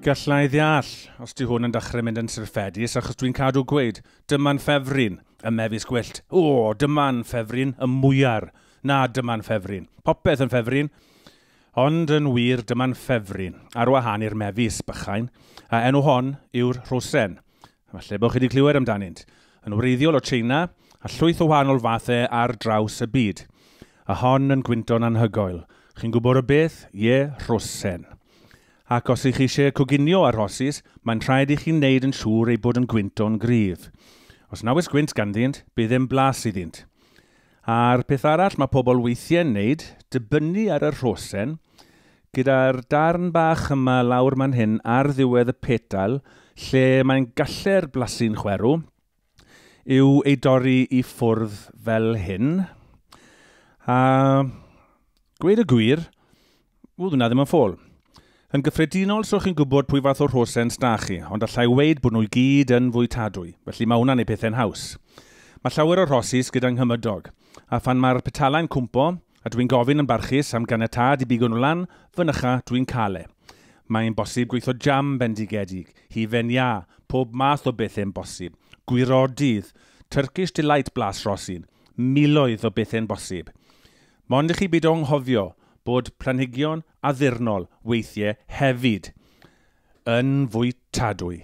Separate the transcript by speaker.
Speaker 1: Gallai ddeall os di hwn yn dechrau mynd yn syrffedus achos dwi'n cadw gweud, dyma'n ffefryn, y mefus gwyllt, o, dyma'n ffefryn, y mwyar, na, dyma'n ffefryn, popeth yn ffefryn, ond yn wir dyma'n ffefryn, ar wahân i'r mefus, bychain, a enw hon yw'r rhosren. Falle bod chi wedi clywed amdanynt. Yn wreiddiol o China, a llwyth o wahanol fathau ar draws y byd. A hon yn gwynto'n anhygoel. Chi'n gwybod o beth? Ie, rhosen. Ac os ych chi eisiau coginio ar rhosys, mae'n rhaid i chi wneud yn siŵr eu bod yn gwynto'n gryf. Os na oes gwynt ganddynt, bydd e'n blas iddynt. A'r peth arall mae pobl weithiau'n wneud, dibynnu ar y rhosen, Gyda'r darn bach yma lawr man hyn ar ddiwedd y petal, lle mae'n galle'r blasu'n chwerw, yw ei dorri i ffwrdd fel hyn. A gweud y gwir, ww, dyna ddim yn ffôl. Yn gyffredinol, so chi'n gwybod pwy fath o rhosens da chi, ond allai weid bod nhw i gyd yn fwytadwy, felly mae hwnna'n ei pethau'n haws. Mae llawer o rhosis gyda nghymydog, a phan mae'r petalau'n cwmpo, A dwi'n gofyn yn barchus am ganiatâd i bigo nhw lan fynycha dwi'n cael e. Mae'n bosib gweitho jam bendigedig, hufen iâ, pob math o bethe'n bosib, gwirodydd, Turkish Delight blas rosyn, miloedd o bethe'n bosib. Mond i chi beidio anghofio bod planhigion addurnol weithie hefyd yn fwytadwy.